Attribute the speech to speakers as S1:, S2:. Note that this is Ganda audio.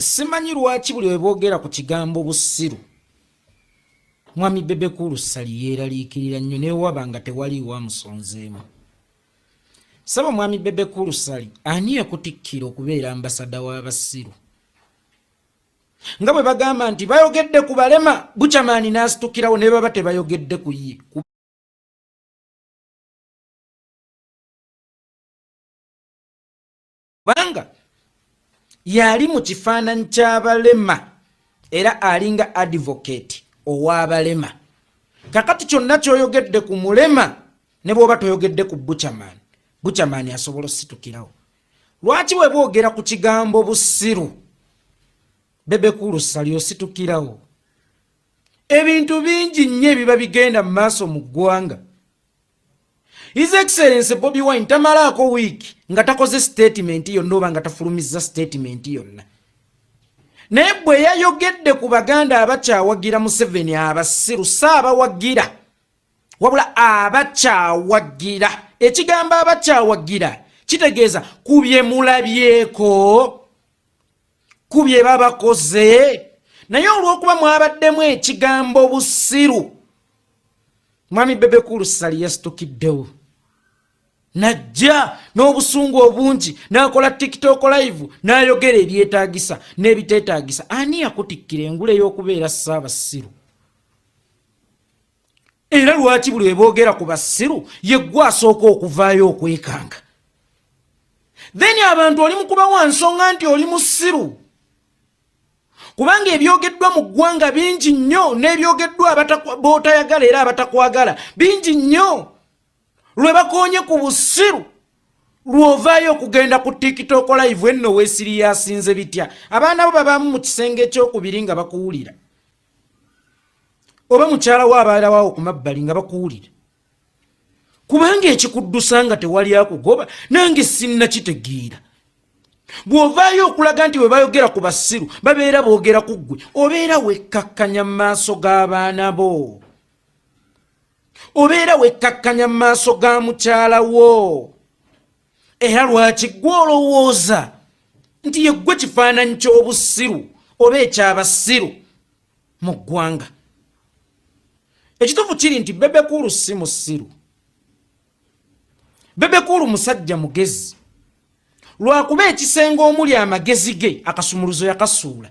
S1: simanyi lwaki buli webogera ku kigambo busiru mwami bebekulu sali yeeraliikirira nnyo newaba nga tewaliiwo amusonzeemu saba mwami bebekulu sali ani ekutikkira okubeera ambasada w'abasiru nga bwe bagamba nti bayogedde ku balema bucamaani n'asitukirawo ne baba tebayogedde ku ye kubanga yali mu kifaananyi ky'abalema era alinga advocate ow'abalema kakati kyonna kyoyogedde ku mulema ne bwoba toyogedde ku buchaman buchaman asobola ositukirawo lwaki weba ogera ku kigambo busiru bebekulusali ositukirawo ebintu bingi nnyo ebiba bigenda mu maaso mu ggwanga His Excellency Bobby Wine tamalaako wiiki nga takoze statement yonna oba nga tafulumizza statement yonna. Naye bwe yayogedde ku Baganda abakyawagira Museveni abasiru saabawagira wabula abakyawagira ekigambo abakyawagira kitegeeza ku bye mulabyeko ku bye babakoze naye olw'okuba mwabaddemu ekigambo busiru mwami bebekulu sali yasitukiddewo najja n'obusungu obungi n'akola tiktok live n'ayogera ebyetaagisa n'ebiteetaagisa ani yakutikkira engule y'okubeera ssaabasiru era lwaki buli weboogera ku basiru yeggwa asooka okuvaayo okwekanga then abantu oli mukuba wa nsonga nti oli musiru kubanga ebyogeddwa mu ggwanga bingi nnyo n'ebyogeddwa bootayagala era abatakwagala bingi nnyo lwe bakoonye ku busiru lw'ovaayo okugenda ku tikitooko live enno weesiri yasinze bitya abaana bo babaamu mu kisenge ekyokubiri nga bakuwulira oba mukyala wo abaalawawo ku mabbali nga bakuwulira kubanga ekikuddusa nga tewali akugoba nange sinnakitegeera bw'ovaayo okulaga nti bwe bayogera ku basiru babeera boogera ku ggwe obeera wekkakkanya mu maaso g'abaana bo obeera wekkakkanya mu maaso ga mukyala wo era lwaki gwe olowooza nti yeggwe kifaananyi ky'obusiru oba ekyabasiru mu ggwanga ekituufu kiri nti bebekulu si musiru bebekulu musajja mugezi lwakuba ekisenge omuli amagezi ge akasumuluzo yakasuula